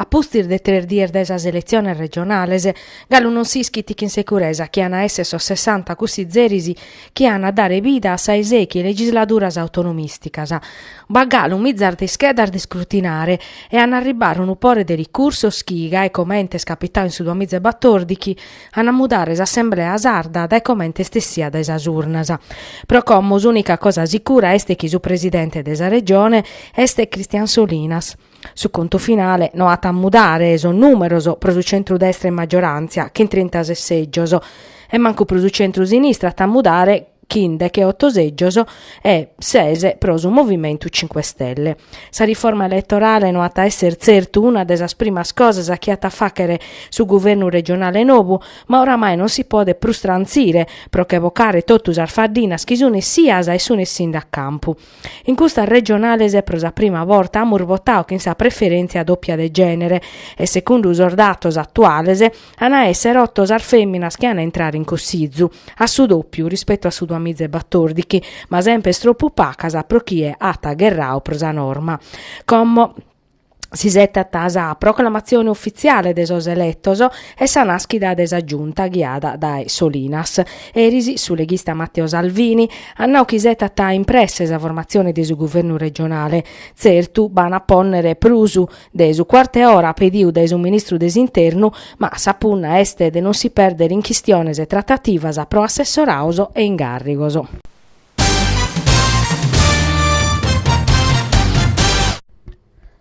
A pustis de tres dies dae sas eletziones regionales, galu non si ischit chin seguresa chi an a èssere sos sessanta cussizeris chi an a dare vida a sa 'e sèichi legisladuras autonomìsticas. B'at galu mizas de ischedas de iscrutinare e an a arribbare unu pore de ricursos chi, gai comente est capitadu in su duamiza e batòrdighi, an a mudare s'assemblea sarda dae comente est essia dae sas urnas. Pro como s'unica cosa sicura est chi su presidente de sa Regione est Christian Solinas. Su contu finale no at a mudare sos numeros pro su centrudestra in maggiorantzia chin trintases sègios e mancu pro su centrusinistra at a mudare chin decheoto sègios e ses pro su Movimentu Cinque Stelle. Sa riforma eletorale no at a èssere tzertu una de sas primas cosas chi at a fàghere su guvernu regionale nou, ma oramai non si podet prus trantzire pro che bocare totu sas faddinas chi sunt essias e sunt essinde a campu. In custas regionales pro sa prima borta amus votadu chin sa preferèntzia dòpia de gènere e segundu sos datos atuales, An a èssere oto sas fèminas chi an a intrare in cossizu, a su dòpiu rispetu a su duamizaebatordighi, ma semper est tropu pacas pro chie at gherrau pro sa norma. Como s'isetat sa proclamatzione ufitziale de sos eletos e sa nàschida de sa Giunta ghiada dae Solinas, eris su leghista Matteo Salvini at nau chi isetat in presse sa formatzione de su guvernu regionale. Tzertu b'an a pònnere prus de su cuartu 'e ora pediu dae su ministru de s'Internu, ma sa punna est de non si pèrder in chistiones e tratativas pro assessorados e ingàrrigos.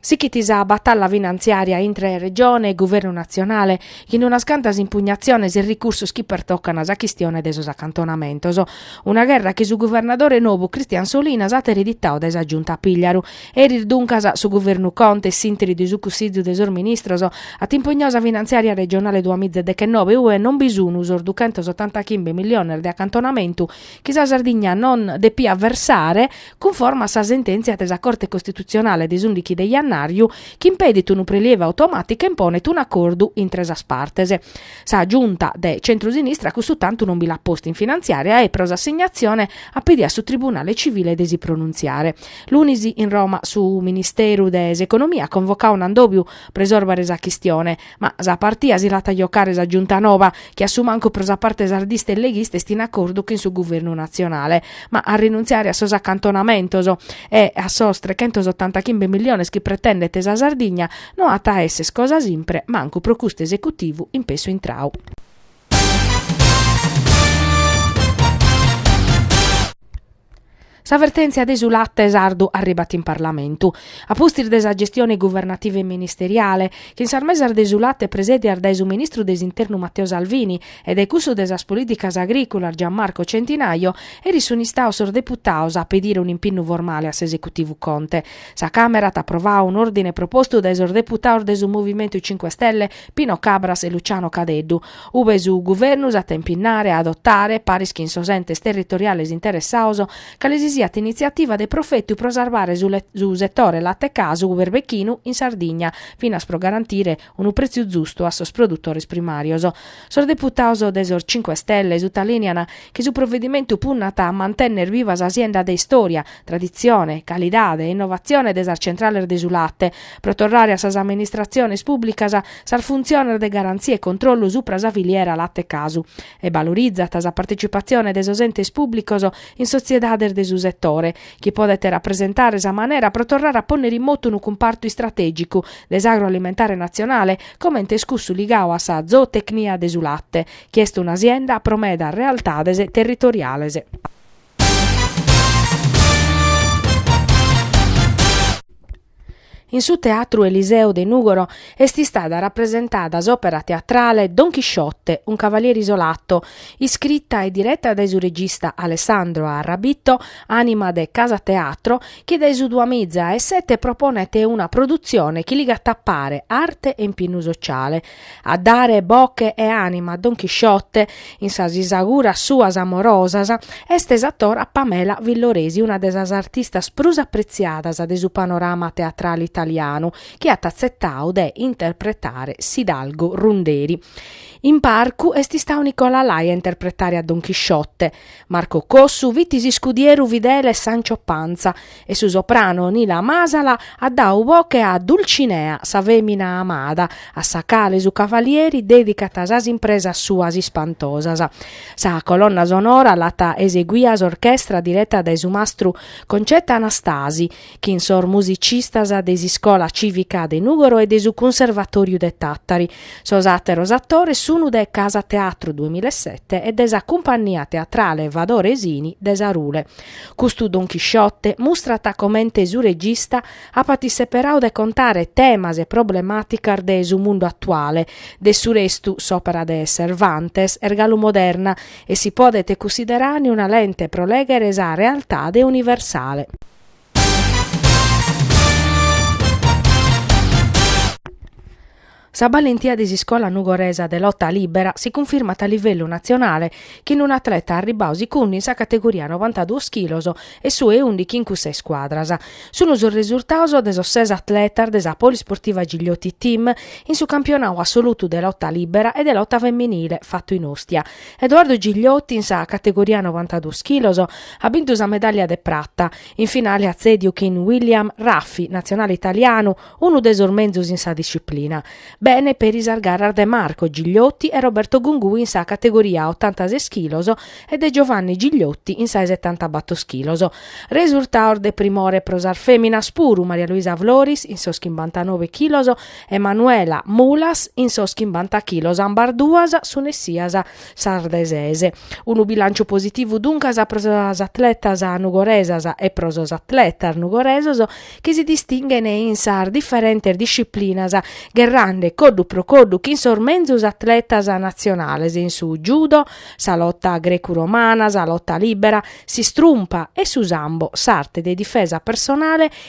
Sighit sa batalla finantziària intre Regione e Guvernu natzionale, chin unas cantas impugnatziones e ricursos chi pertocan sa chistione de sos acantonamentos. Una gherra chi su guvernadore nobu Christian Solinas at ereditadu dae sa Giunta Pigliaru Eris duncas su Guvernu Conte, a s'interi de su Cussizu de sos Ministros, at impugnau sa finantziària regionale duamiza e dechenobe ue non bi sun sos duchentos otantachimbe milliones de acantonamentu chi sa Sardigna non depiat versare cunforma a sa sentèntzia de sa Corte Costitutzionale de s'ùndighi de jannàriu chi impedit unu prelievu automàticu e imponet un'acordu intre sas partes. Sa Giunta de centro-sinistra cussu tantu non bi l'at postu in finantziària e pro s'assignatzione at pedidu a su Tribunale Civile de si pronuntziare. Lunis in Roma su Ministeru de s'Economia at convocau un'addòbiu pro isòrbere sa chistione, ma sa partia si l'at a giocare sa Giunta noba, chi a su mancu pro sa parte sardista e leghista est in acordu chin su Guvernu natzionale, ma a rinuntziare a sos acantonamentos e a sos trechentosottantachimbe milliones chi pretendet sa Sardigna no at a esser cosa simpre, mancu pro custu esecutivu in pessu intrau. Sa vertèntzia de su late sardu arribat in Parlamentu. A pustis de sa gestione guvernativa e ministeriale, chin sas mesas de su late presèdias dae su ministru de s'Internu Matteo Salvini e dae cussu de sas Polìticas Agrìculas Gianmarco Centinaio, eris sunt istados sos deputados a pedire un'impinnu formale a s'esecutivu Conte. Sa Càmera at aprovadu un'òrdine propostu dae sos deputados de su Movimentu Cinque Stelle Pino Cabras e Luciano Cadeddu. Ube su Guvernu s'at a impinnare a adotare, paris chin sos entes territoriales interessados, cale si siat initziativa de profetu pro sarvare su setore late-casu berbechinu in Sardigna, finas pro garantire unu pretziu zustu a sos produtores primàrios. Sos deputados de sos Cinque Stelle sutalìnian chi su provedimentu punnat a mantènnere viva sa sienda de istòria, traditzione, calidade e innovatzione de sas centrales de su late, pro torrare a sas amministratziones pùblicas sas funtziones de garantzia e controllu supra sa filiera late-casu e balorizat sa partecipatzione de sos entes pùblicos in sotziedades de su setore chi podet rapresentare sa manera pro torrare a pònnere in motu unu cumpartu istratègicu de s'agroalimentare natzionale comente est cussu ligadu a sa zootecnia de su late chi est una sienda pro medas realtades territoriales. In su Teatru Eliseo de Nùgoro est istada rapresentada s'òpera teatrale Don Chisciotte, un cavaliere isolato, iscrita e direta dae su regista Alessandro Arrabito, ànima de Casa Teatro, chi dae su duamiza e sete proponet una produtzione chi ligat a pare arte e impinnu sociale, a dare boche e anima a Don Chisciote in sas isauguras suas amorosas, est s'atora Pamela Villoresi una de sas artistas prus apretziadas de su panorama teatrale italianu chi at atzetadu de interpretare s'idalgo runderi. In parcu est istadu Nicola Lai a interpretare a Don Chisciote, Marco Cossu fit s'iscudieru fidele Sancho Panza e su soprano Nila Masala at dadu boche a Dulcinea, sa fèmina amada, a sa cale su cavalieri dèdicat sas impresas suas ispantosas. Sa colonna sonora l'at eseguia s'orchestra direta dae su mastru Concetta Anastasi, chin sos musicistas de s'Iscola Cìvica de Nùgoro e de su Cunservatòriu de Tàtari. Sos àteros atores sunu de Casa Teatru duemilasette e de sa Cumpannia Teatrale Vadore Sini de Sarule. Custu Don Chisciote mustrat comente su regista apat isseperadu de contare temas e problemàticas de su mundu atuale. De su restu, s'òpera de Cervantes est galu moderna e si podet cussiderare una lente pro lèghere sa realtade universale. Sa ballentia de s'iscola nugoresa de lota libera si cunfirmat a livellu natzionale chin un atleta arribbau sicundu in sa categoria novantaduos chilos e su 'e ùndichi in cussa 'e iscuadras. Sunu sos resurtados de sos ses atletas de sa Polisportiva Gigliotti Team in su campionadu assolutu de lota libera e de lota femminile fatu in Ostia. Edoardo Gigliotti in sa categoria novantaduos chilos at bintu sa medàllia de prata, in finale at tzèdiu chin William Raffi, natzionale italianu, unu de sos menzus in sa disciplina. Bene peri sas garas de Marco Gigliotti e Roberto Gungui in sa categoria otantases chilos e de Giovanni Gigliotti in sa 'e setantabatos chilos. Resurtaos de primore pro sas fèminas puru, Maria Luisa Floris in sos chimbantanove chilos e Manuela Mulas in sos chimbanta chilos ambas duas sun essias sas de ses. Unu bilànciu positivu duncas pro sas atletas nugoresas e pro sos atletas nugoresos chi si distinghen in sas diferentes disciplinas gherrande coddu pro coddu chin sos menzus atletas natzionales in su judo, sa lota grecu-romana, sa lota lìbera, s'istrumpa e su sambo, s'arte de difesa personale